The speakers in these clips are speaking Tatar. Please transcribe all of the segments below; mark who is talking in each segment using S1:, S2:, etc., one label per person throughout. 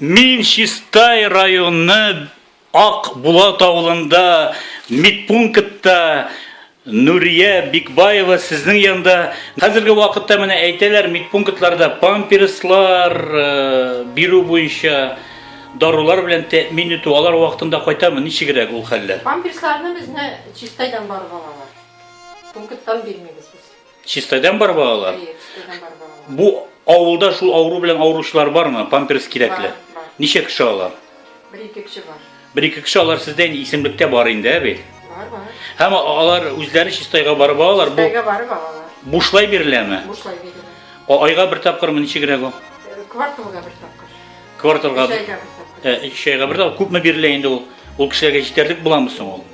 S1: Мин Чистай районы Ак Булат авылында медпунктта Нурия Бикбаева сезнең янда. Хәзерге вакытта менә әйтәләр, медпунктларда памперслар э, бирү буенча дарулар белән тәэмин итү алар вакытында кайтамы? Ничегрәк ул хәлләр? Памперсларны безне
S2: Чистайдан барып алалар. Пункттан бирмибез без. Чистайдан бар балалар?
S1: Әйе, чистайдан бар балалар.
S2: Бу авылда
S1: шул авыру белән авыручылар бармы? Памперс кирәкле. Ничә кеше алар? Бер-ике кеше
S2: бар. Бер-ике кеше алар сездә
S1: инде исемлектә бар инде, ә бит? Бар, бар. Һәм
S2: алар
S1: үзләре чистайга барып алалар. Бу Чистайга барып алалар.
S2: Бушлай биреләме?
S1: Бушлай
S2: бирелә. Айга бер тапкырмы
S1: ничегрәк ул? Э, кварталга
S2: бер тапкыр. Кварталга. Өч айга
S1: бер
S2: тапкыр. Э, өч айга бер тапкыр. Күпме
S1: бирелә инде ул? Ул кешеләргә җитәрлек буламы соң ул?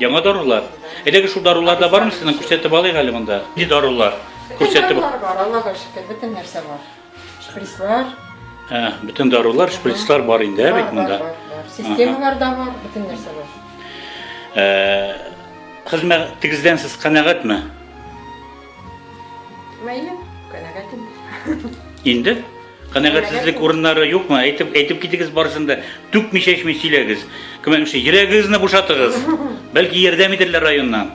S2: Яңа дарулар.
S1: Эләге шул дарулар да бармы сезнең? Күрсәтеп алыйк әле монда. Ни дарулар? Күрсәтеп. Дарулар бар, Аллага
S2: шөкер, бөтен нәрсә бар. Шприцлар. Ә,
S1: бөтен дарулар, шприцлар бар инде, ә бит монда. Системалар да
S2: бар, бөтен нәрсә бар. Э,
S1: хезмәтегездән сез канәгатьме?
S2: Мәйле, канәгатьмен.
S1: Инде Канәгатьсезлек урыннары юкмы? Әйтеп, әйтеп китегез барысын да. Түкми чәчми сөйләгез. Кемәмше, йөрәгегезне бушатыгыз. Бәлки ярдәм итәрләр районнан.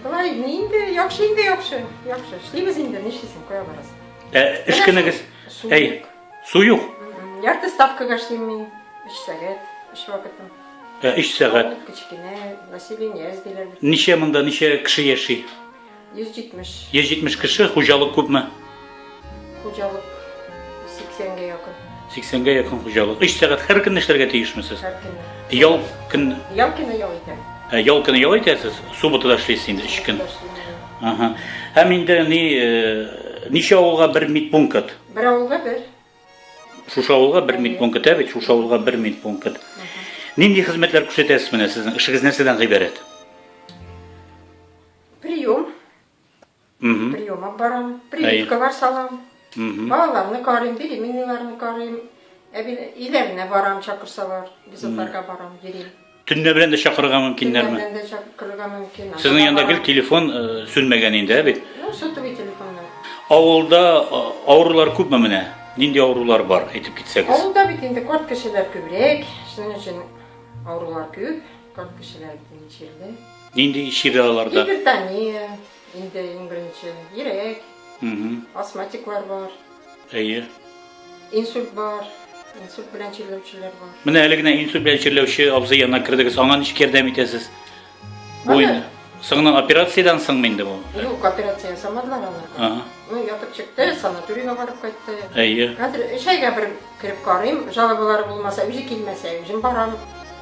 S2: Болай инде яхшы инде яхшы. Яхшы. Эшлибез инде, нишлисең, кая барасың? Ә эш кенегез?
S1: Әй, су юк. Ярты ставкага
S2: эшлим мин. 3 сәгать, 3 вакытым. Ә 3 сәгать.
S1: Кечкенә
S2: население эзлиләр. Ничә монда, ничә
S1: кеше яши?
S2: 170. 170 кеше,
S1: хуҗалык күпме?
S2: Хуҗалык 80-гә якын. 80-гә якын
S1: хуҗалык. 3 сәгать һәр көнне эшләргә тиешме сез? Һәр көнне. Ял
S2: көн
S1: Ял көне ял
S2: итәм. Ә, ял көне ял
S1: итәсез, суббота да эшлисез инде 3 көн. Ага. Һәм инде ни э, ничә авылга бер медпункт? Бер авылга бер.
S2: Шушы
S1: авылга бер медпункт, ә бит шушы авылга бер медпункт. Нинди хезмәтләр күрсәтәсез менә сезнең эшегез нәрсәдән гыйбарәт?
S2: Прием. Угу. Прием алып барам. Прививкалар салам. Угу. Балаларны карыйм, беременныйларны карыйм. Иләренә барам, чакырсалар. Без аларга барам, йөрим. Төнлә белән дә чакырырга
S1: мөмкиннәрме? Төнлә белән дә чакырырга
S2: мөмкин. Сезнең янда гел телефон
S1: э, сүнмәгән инде, ә бит? Ну, сотовый телефоннар.
S2: Авылда
S1: э, авырулар күпме менә? Нинди авырулар бар, әйтеп китсәгез? Авылда бит инде карт
S2: кешеләр күбрәк, шуның өчен авырулар күп. Как кешеләр бит чирдә. Нинди чирдә
S1: аларда? Гипертония,
S2: инде иң беренче, йөрәк, астматиклар бар. Әйе.
S1: Инсульт
S2: бар. Инсульт белән чирләүчеләр бар. Менә әле генә инсульт белән
S1: чирләүче абзый янына кердегез. Аңа ничек ярдәм итәсез? Бу инде соңыннан операциядән соңмы инде бу? Юк, операция
S2: ясамадылар аны. Ага. Ну, ятып чыкты, санаторийга барып кайтты. Әйе. Хәзер өч
S1: айга бер
S2: кереп карыйм, жалобалар булмаса, үзе килмәсә, үзем барам.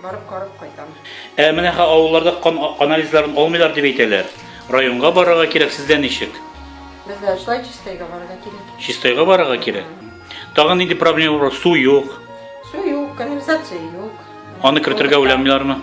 S2: Барып карап кайтам. Ә менә ха
S1: авылларда кан анализларын алмыйлар дип әйтәләр. Районга барырга кирәк, сездә ничек? Бездә шулай
S2: чистайга барырга кирәк. Чистайга барырга кирәк.
S1: Тагын нинди проблема бар? Су юк. Су юк, канализация
S2: юк. Аны кертергә
S1: уйламыйлармы?